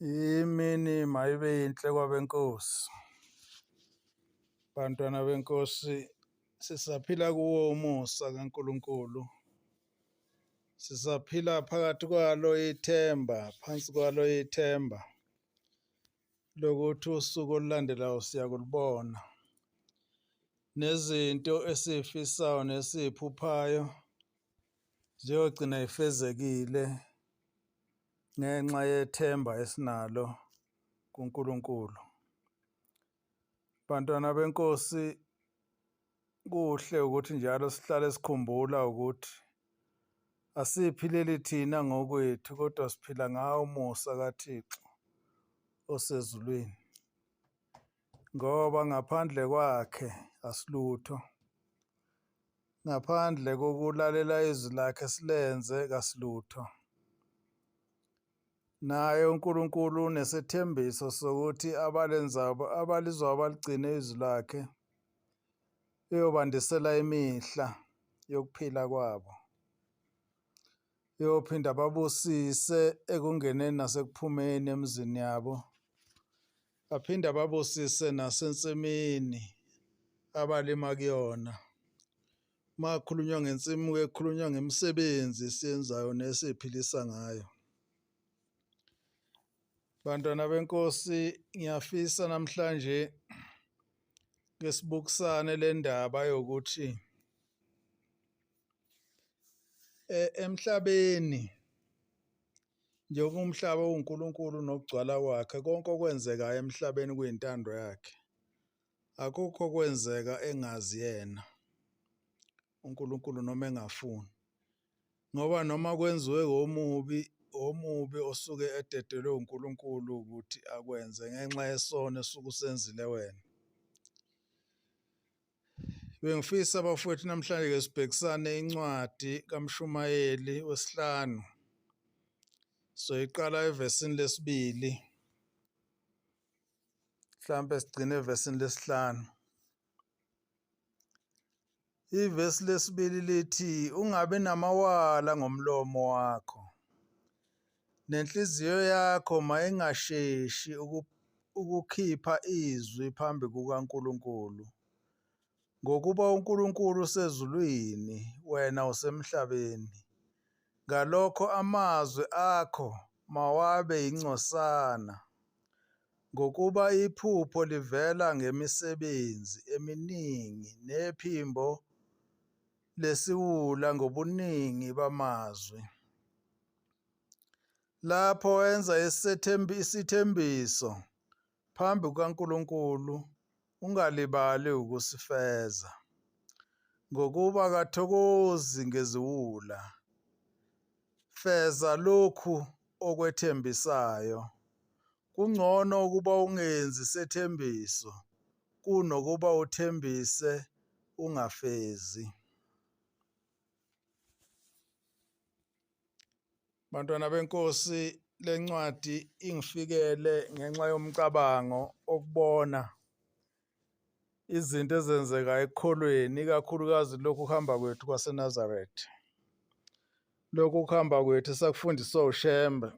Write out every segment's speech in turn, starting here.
Imini mayibe yinhle kwabenkosi. Bantwana benkosi sisaphila kuwo umusa kaNkuluNkulu. Sisaphila phakathi kwalo ithemba, phansi kwalo ithemba lokuthi usuku olulandelayo siyakulibona. Nezinto esifisayo nesiphuphayo ziyogcina ifezekile ngenxa yethemba esinalo kuNkulunkulu. Bantwana benkosi kuhle ukuthi njalo sihlale sikhumbula ukuthi asiphileli thina ngokwethu kodwa siphila ngawo umusa kaThixo osezulwini. ngoba ngaphandle kwakhe asilutho ngaphandle kokulalela izwi lakhe silenze kasilutho naye uNkulunkulu unesethembiso sokuthi abalenzabo abalizwayo baligcine izwi lakhe eyobandisela imihla yokuphila kwabo eyophinda babusise ekungeneni nasekuphumeni emizini yabo Aphinde ababusise nasensimini abalima kuyona. Uma kukhulunywa ngensimu kuye kukhulunywa ngemisebenzi esiyenzayo nesiyiphilisa ngayo. Bantwana benkosi ngiyafisa namhlanje ke sibukisane le ndaba yokuthi e, emhlabeni Njengoba umhlaba uwuNkulunkulu nokugcwala kwakhe, konke okwenzekayo emhlabeni kuyintando yakhe. Akukho kwenzeka engazi yena uNkulunkulu noma engafuni. Ngoba noma kwenziwe omubi omubi osuke ededelwe uNkulunkulu ukuthi akwenze ngenxa yesono esuke usenzile wena. Bengifisa bafowethu namhlanje ke sibhekisane incwadi kaMshumayeli wesihlanu. Soyiqala evesini lesibili. Mhlambe sigcine evesini lesihlanu. Ivesi lesibili lithi ungabe namawala ngomlomo wakho. Nenhliziyo yakho mayingasheshi ukukhipha izwi phambi kukaNkulunkulu, ngokuba uNkulunkulu usezulwini, wena usemhlabeni. Ngalokho amazwi akho mawabe yingcosana, ngokuba iphupho livela ngemisebenzi eminingi, nephimbo lesiwula ngobuningi bamazwi. lapho wenza isithembiso phambi kukaNkulunkulu ungalibali ukusifeza ngokuba kathokozi ngeziwula feza lokhu okwethembisayo kungcono ukuba ungenzi sethembiso kunokuba uthembise ungafezi Bantwana benkosi lencwadi ingifikele ngenxa yomcabango okubona izinto ezenzeka ekukholweni ikakhulukazi lokhu kuhamba kwethu kwaseNazareth. Lokhu kuhamba kwethu sakufundiswa uShembe.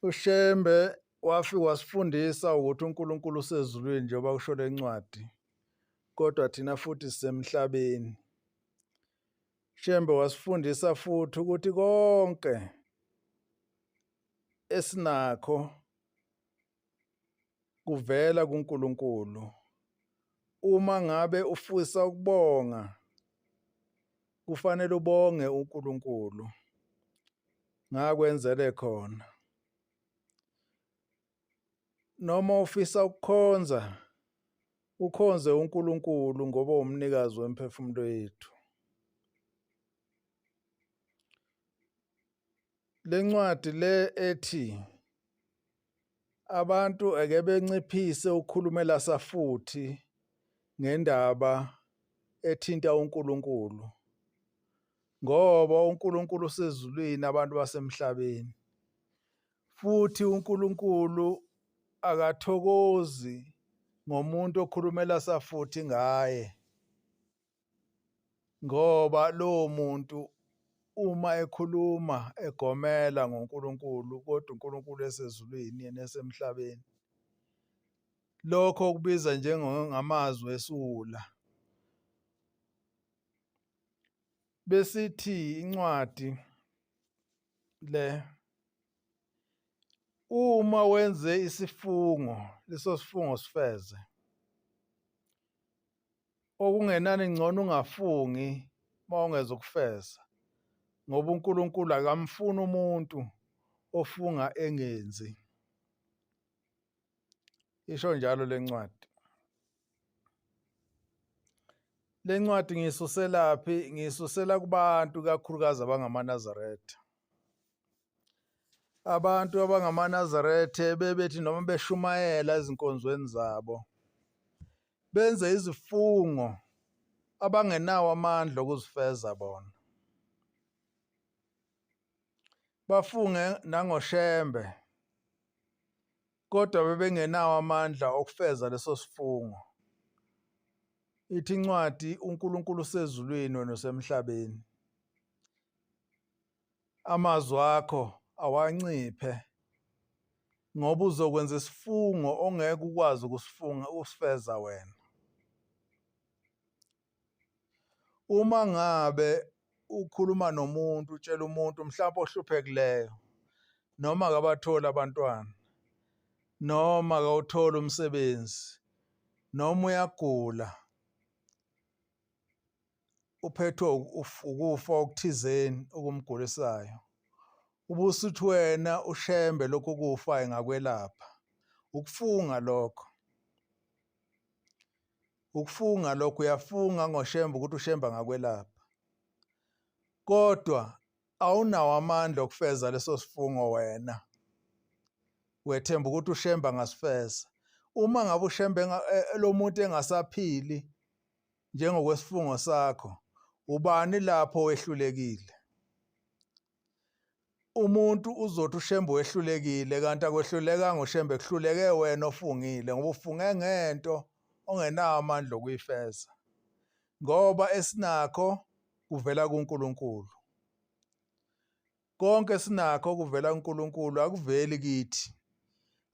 UShembe wafika wasifundisa ukuthi uNkulunkulu usezulwini njengoba kusho lencwadi kodwa thina futhi sisemhlabeni. Shembe wasifundisa futhi ukuthi konke esinakho kuvela kuNkulunkulu. Uma ngabe ufisa ukubonga kufanele ubonge uNkulunkulu ngakwenzele khona. Noma ufisa ukukhonza, ukhonze uNkulunkulu ngoba umnikazi wemphefumulo yethu. Lencwadi le ethi abantu ake benciphise ukukhulumela safuthi ngendaba ethinta uNkulunkulu ngoba uNkulunkulu usezulwini abantu basemhlabeni Futhi uNkulunkulu akathokozi ngomuntu okhulumela safuthi ngaye ngoba lowo muntu uma ekhuluma egomela ngoNkulunkulu kodwa uNkulunkulu esezulwini yena esemhlabeni lokho kubiza njengamazwi esula besithi incwadi le uma wenze isifungo leso sifungo sifeze okungenani ngcono ungafungi uma ungeza ukufeza ngoba uNkulunkulu akamfuni umuntu ofunga engenzi isho njalo lencwadi Le ncwadi ngiyisuselaphi? Ngiyisusela kubantu ikakhulukazi abangamaNazaretha. Abantu abangamaNazaretha bebethi noma beshumayela ezinkonzweni zabo benze izifungo abangenawo amandla okuzifeza bona. Bafunge nangoShembe Kodwa bebengenawo amandla okufeza leso sifungo. Ithi incwadi uNkulunkulu usezulwini wena usemhlabeni. Amazwi akho awanciphe ngoba uzokwenza isifungo ongeke ukwazi ukusifunga usifeza wena. Uma ngabe ukhuluma nomuntu utshela umuntu mhlawumbe ohluphekileyo noma akabatholi abantwana noma akawutholi umsebenzi noma uyagula uphethwe ukufa okuthizeni okumgulisayo ubusuthi wena ushembe lokho kufa engakwelapha ukufunga lokho ukufunga lokho uyafunga ngoshemba ukuthi ushemba ngakwelapha kodwa awunawo amandla okufeza leso sifungo wena wethemba ukuthi ushemba angasifeza uma ngabe ushemba e, e, lo muntu engasaphili njengokwesifungo sakho ubani lapho wehlulekile umuntu uzothi ushembe wehlulekile kanti akwehluleka ngoshembe kuhluleke wena ofungile ngoba ufunge ngento ongenawo amandla okuyifeza ngoba esinakho kuvela kuNkulunkulu konke sinakho kuvela kuNkulunkulu akuveli kithi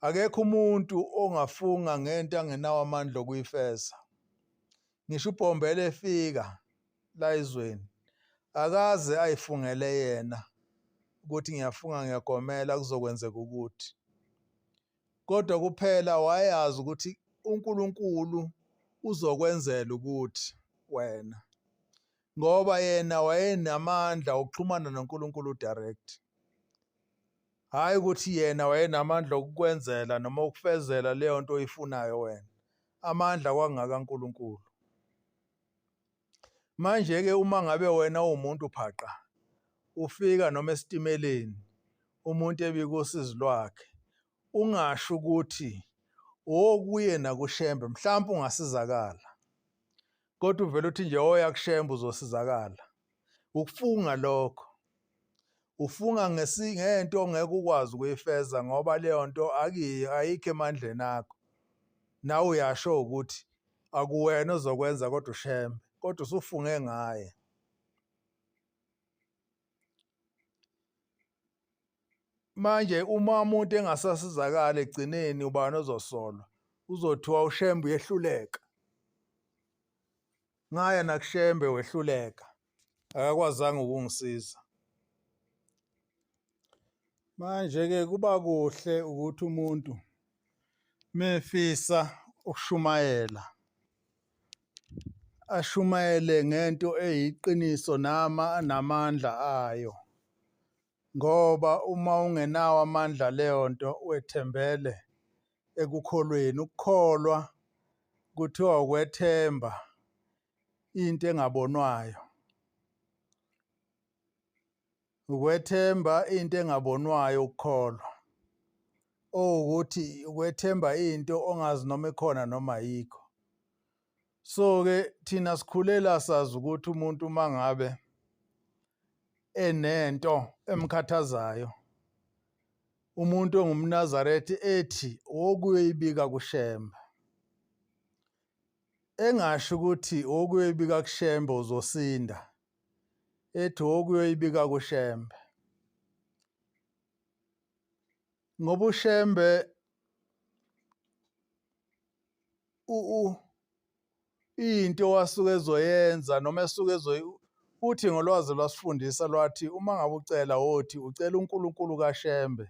akekho umuntu ongafunga ngento angenawo amandla okuyifeza ngisho ubhombela efika la izweni akaze ayifungele yena ukuthi ngiyafunga ngiyagomela kuzokwenzeka ukuthi kodwa kuphela wayazi ukuthi uNkulunkulu uzokwenzela ukuthi wena ngoba yena wayenamandla okuxhumana noNkulunkulu direct hayi ukuthi yena wayenamandla okukwenzela noma ukufezela leyo nto oyifunayo wena amandla kwangaka uNkulunkulu manje ke uma ngabe wena uwumuntu phaqa ufika noma esitimeleni umuntu ebika usizi lwakhe ungasho ukuthi okuye nakushembe mhlawumbe ungasizakala kodwa uvele uthi nje oya kushemba uzosizakala ukufunga lokho ufunga ngesingento ongeke ukwazi ukuyifeza ngoba leyo nto akiyi ayikho emandleni akho nawe uyasho ukuthi akuwena ozokwenza kodwa ushembe kodwa usufunge ngaye manje uma umuntu engasasizakala egcineni ubani ozosolwa uzothiwa ushembe uyehluleka ngaya nakushembe wehluleka akakwazanga ukungisiza manje ke kuba kuhle ukuthi umuntu mefisa ukushumayela ashumayele ngento eyiqiniso nama namandla ayo ngoba uma ungenawo amandla leyo nto wethembele ekukholweni ukukholwa kuthiwa ukwethemba into engabonwayo Ukwethemba into engabonwayo ukukholwa. Owukuthi ukwethemba into ongazi noma ikhona noma ayikho. So-ke thina sikhulela sazi ukuthi umuntu uma ngabe enento emkhathazayo umuntu ongumNazaretha ethi wokuyoyibika kuShembe engasho ukuthi wokuyoyibika kuShembe uzosinda ethi okuyoyibika kuShembe ngoba uShembe u into wasuke ezoyenza noma esuke ezoyi uthi ngolwazi lwasifundisa lwathi uma ngabe ucela wothi ucela uNkulunkulu kaShembe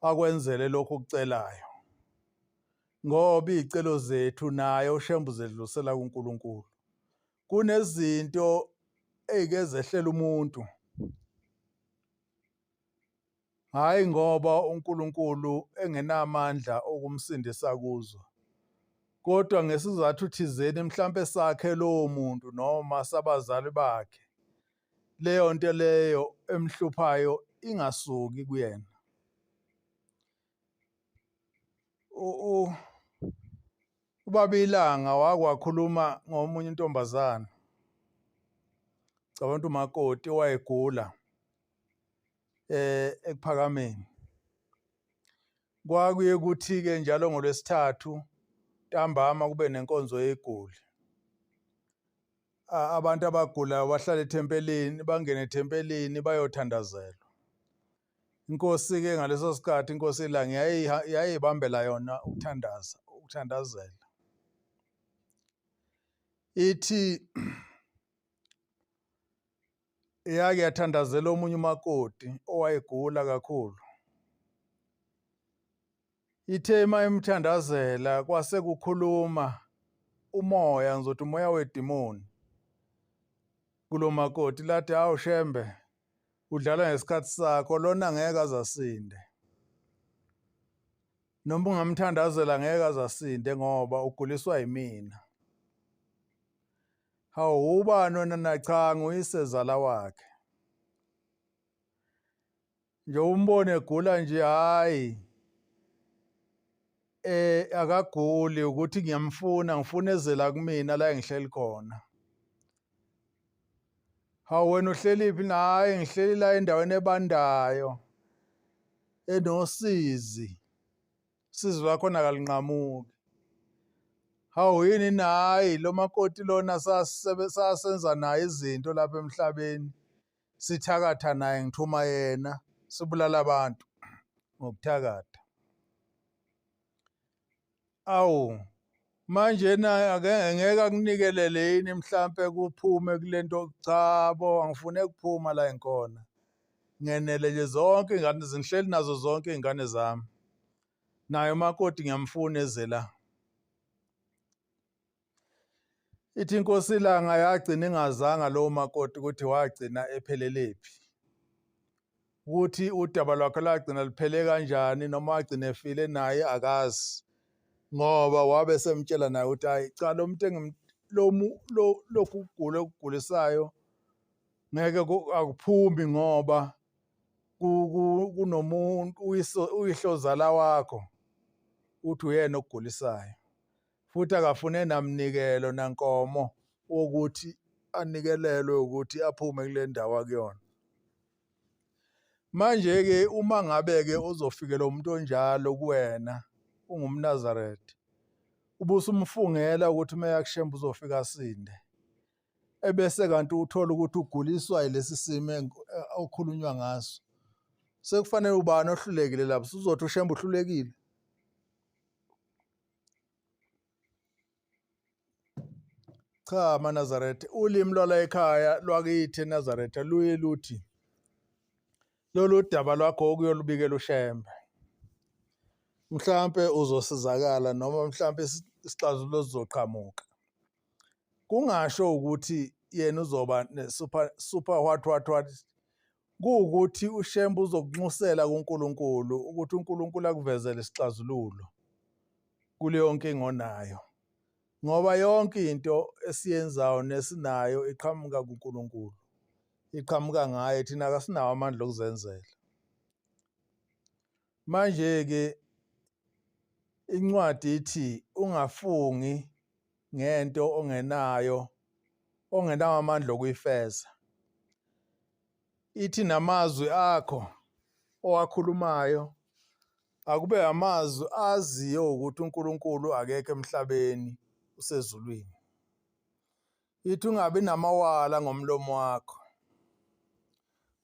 akwenzele lokho kucelayo ngoba izicelo zethu naye uShembe uzedlusela kuNkulunkulu kunezinto eyike zehlela umuntu hhayi ngoba uNkulunkulu engenamandla okumsindisa kuzo kodwa ngesizathu thizeni mhlampe sakhe lowo muntu noma sabazali bakhe leyo nto leyo emhluphayo ingasuki kuyena ubaba ilanga wakwakhuluma ngomunye intombazana cabanga ukuthi umakoti owayegula eh ekuphakameni kwakuye kuthi ke njalo ngolwesithathu ntambama kube nenkonzo yegoli abantu abagulayo bahlala ethempelini bangene ethempelini bayothandazelwa inkosi-ke ngaleso sikhathi inkosi ilanga yayibambela yona ukuthandaza ukuthandazela ithi yake yathandazela omunye umakoti owayegula kakhulu Ithe uma imthandazela kwase kukhuluma umoya ngizothi umoya wedimoni kulomakoti lathi hawu shembe udlala ngesikhathi sakho lona ngeke azasinde noma ungamthandazela ngeke azasinde ngoba uguliswa yimina hawu ubani wena nachanga uyisezala wakhe nje umbone egula nje hayi eh akaguli ukuthi ngiyamfuna ngifuna ezela kumina la engihleli khona hawu wena uhlelephi naye ngihleli la endaweni ebandayo enosizi sizi lwakho nakalinqamuki hawu yini nayi lo makoti lona sasenza naye izinto lapha emhlabeni sithakatha naye ngithuma yena sibulala abantu ngokuthakatha awu manje na ake ngeke akunikelele yini mhlampe kuphume kulento cha bo angifune kuphuma la enkona ngenele nje zonke ingane zinhleli nazo zonke ingane zami naye umakoti ngiyamfuna ezela ithi inkosi ilanga yagcina ingazanga lowo makoti ukuthi wagcina epheleliphi ukuthi udaba lwakhe lagcina luphele kanjani noma wagcina efile naye akazi ngoba wabe semtshela naye ukuthi hayi cha lo muntu engilomu lokhu kugula okugulisayo ngeke akuphumi ngoba kunomuntu uyihlozala wakho uthi uyena okugulisayo futhi akafune namnikelo nankomo wokuthi anikelelwe ukuthi aphume kule ndawo akuyona manje-ke uma ngabe-ke uzofikela umuntu onjalo kuwena ungumnazaretha ubusumfungela ukuthi uma yakushemba uzofika asinde ebese kanti uthola ukuthi uguliswa yilesi simo eh, okhulunywa ngaso sekufanele ubani ohlulekile lapho uzothi ushembe uhlulekile Cha amaNazaretha ulimi lwala ekhaya lwakithi eNazaretha luye luthi lolu daba lwakho okuyolubikela uShembe. Mhlampe uzosizakala noma mhlampe isixazululo sizoqhamuka. Kungasho ukuthi yena uzoba ne super super what what what kuwukuthi uShembe uzokunxusela kuNkulunkulu ukuthi uNkulunkulu akuvezele isixazululo kuleyo nkinga onayo ngoba yonke into esiyenzayo nesinayo iqhamuka kuNkulunkulu iqhamuka ngaye thina kasinawo amandla okuzenzela manje ke incwadi ithi ungafungi ngento ongenayo ongenawo amandla okuyifeza ithi namazwi akho owakhulumayo akube amazwi aziyo ukuthi uNkulunkulu akekho emhlabeni usezulwini Yithi ungabi namawala ngomlomo wakho.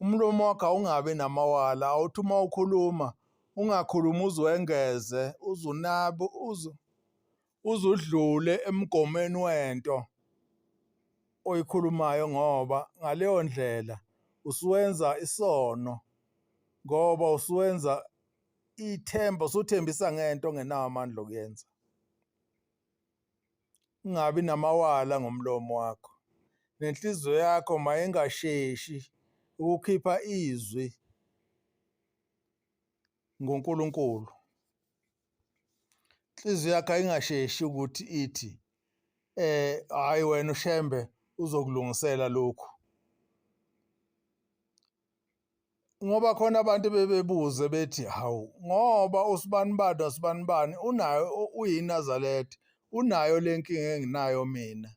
Umlomo wakho awungabi namawala, awuthi uma ukhuluma ungakhulumi uzwengeze, uzunabe, uzu uzudlule emgomeni wento oyikhulumayo ngoba ngaleyo ndlela usuwenza isono ngoba usuwenza ithemba usuthembisa ngento ongenawo amandla okuyenza. Ungabi namawala ngomlomo wakho, nenhliziyo yakho mayingasheshi ukukhipha izwi ngoNkulunkulu. Inhliziyo yakho ayingasheshi ukuthi ithi eh hayi wena uShembe uzokulungisela lokhu. ngoba khona abantu bebebuze bethi hawu ngoba usibanibani wasibanibani unayo uyinazaletha unayo le nkinga enginayo mina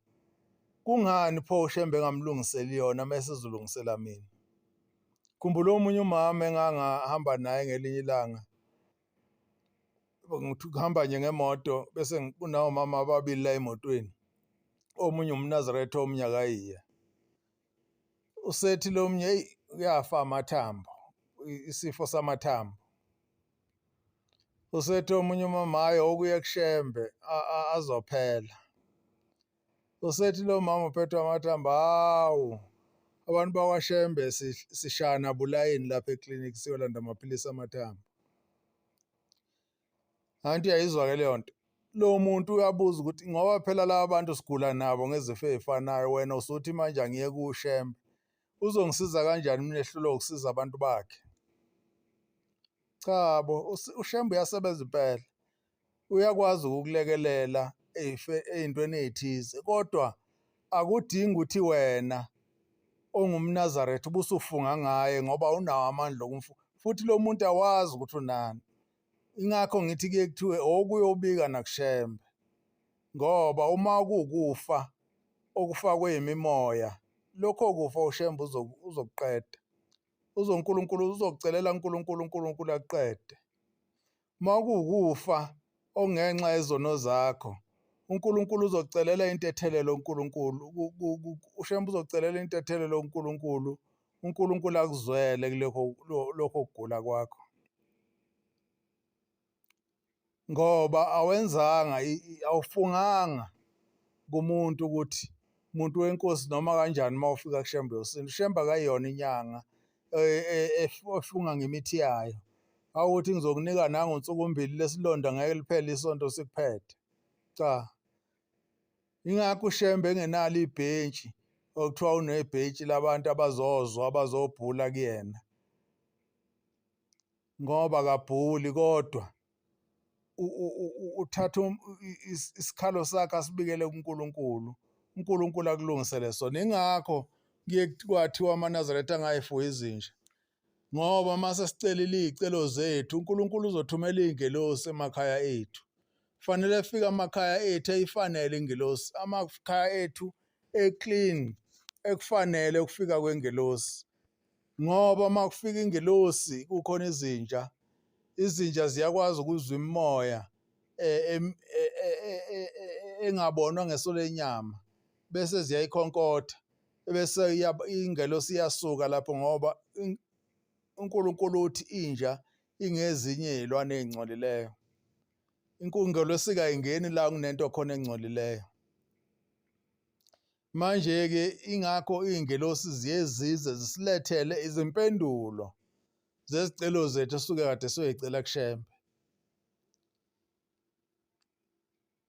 kungani pho ushembe engamlungiseli yona mese izolungisela mina khumbula omunye umama engangahamba naye ngelinye ilanga ngithi kuhamba nje ngemoto bese kunawomama ababili la emotweni omunye umnazaretha omunye akayiye usethi lo mnye eyi uyafa amathambo isifo samathambo usethi omunye umamayo okuye kushembe azophela usethi lo mama uphethwe amathambo hawu abantu bakwashembe sishana bulayini lapha eklinikhi siyolanda amaphilisi amathambo Anti yayizwa ke leyo nto. Lo muntu uyabuza ukuthi ngoba phela laba bantu sigula nabo ngezifo ezifanayo wena usuthi manje angiye kushembe. Uzongisiza kanjani mina ehlulwa ukusiza abantu bakhe? Cha bo ushembe uyasebenza impela. Uyakwazi ukukulekelela ezintweni ezithize kodwa Akudingi ukuthi wena ongumNazaretha ubusufunga ngaye ngoba unawo amandla okumfu futhi lo muntu awazi ukuthi unani ingakho ngithi kuye kuthiwe okuyobika nakushembe ngoba uma kukufa okufakwe imimoya lokho kufa ushembe uzokuqeda uzonkulunkulu uzokucelela unkulunkulu unkulunkulu akuqede uma kuwukufa okungenxa yezono zakho uNkulunkulu uzocelela intethelelo uNkulunkulu ushembe uzocelela intethelelo uNkulunkulu uNkulunkulu akuzwele kulokho lokho kugula kwakho ngoba awenzanga awufunganga kumuntu ukuthi muntu wenkosi noma kanjani uma ufika kushembe yosintu shembe akayona inyanga e, e, e, oshunga ngemithi yayo awuthi ngizokunika nangu nsuku mbili lesilonda ngeke liphele isonto sikuphethe cha ingakho ushembe engenalo ibhentshi okuthiwa unebhentshi labantu abazozwa abazobhula kuyena ngoba kabhuli kodwa uthatha um, isikhalo sakhe asibikele kuNkulunkulu uNkulunkulu akulungisele sona ingakho kuye kwathiwa amaNazaretha angayifuyi izinja ngoba uma sesicelile iy'celo zethu uNkulunkulu uzothumela iy'ngelosi emakhaya ethu kufanele efike amakhaya ethu eyifanele ingelosi amakhaya ethu eclean ekufanele ukufika kwengelosi Ngoba uma kufika ingelosi kukhona izinja, izinja ziyakwazi ukuzwa imimoya e, e, e, engabonwa ngeso lenyama bese ziyayikhonkotha bese ingelosi iyasuka lapho ngoba uNkulunkulu uthi inja ingezinye izilwane ezingcolileyo. Inkungelosika ingeni la kunento khona engcolileyo. Manje-ke ingakho iy'ngelosi ziye zize zisilethele izimpendulo zezicelo zethu esuke kade soyicela kushembe.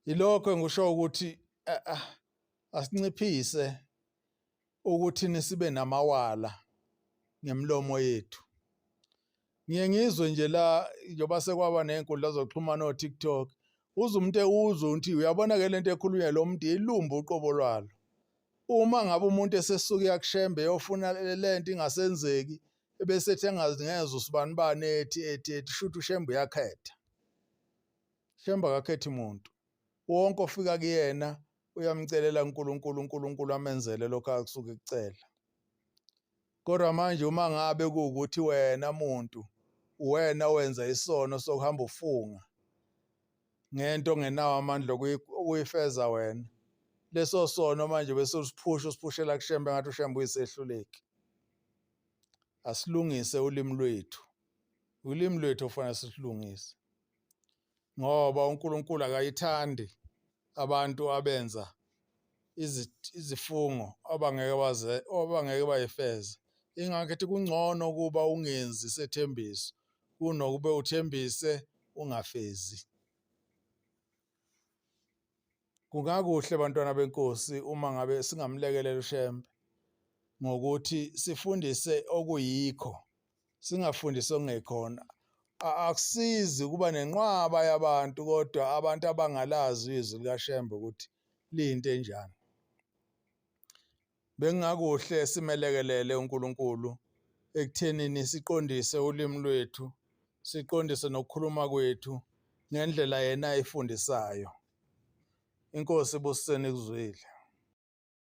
Yilokho engisho ukuthi eh, ah, asinciphise ukuthi nisibe namawala ngemlomo yethu. ngiye ngizwe nje la njengoba sekwaba ney'nkundla zokuxhumana o-tiktok uze umuntu ewuzwe ukuthi uyabona ke lento ekhulunywa lo muntu ilumba uqobo lwalo uma ngabe umuntu esesuke yakushembe yofuna lento ingasenzeki ebese ethi engazi ngeze usibani bani ethi ethi ethi shuthi ushembe uyakhetha shembe akakhethi muntu wonke ofika kuyena uyamcelela uNkulunkulu uNkulunkulu amenzele lokho akusuke kucela Kodwa manje uma ngabe kuwukuthi wena muntu uwena owenza isono sokuhamba ufunga ngento ongenawo amandla okuyifeza wena leso sono manje bese usiphusha usiphushela kushembe ngathi ushembe uyisehluleki asilungise ulimi lwethu ulimi lwethu ofanele silungise ngoba uNkulunkulu akayithandi abantu abenza izifungo abangeke baze abangeke bayifeze ingakho ethi kungcono ukuba ungenzi isethembiso kunokube uthembise ungafezi kungakuhle bantwana benkosi uma ngabe singamlekelela ushembe ngokuthi sifundise okuyikho singafundisi ongekhona akusizi ukuba nenqwaba yabantu kodwa abantu abangalazi izwi likaShembe ukuthi liyinto enjani bengingakuhle simelekelele uNkulunkulu ekuthenini siqondise ulimi lwethu siqondise nokukhuluma kwethu ngendlela yena ayifundisayo inkosi ibusiseni kuzwile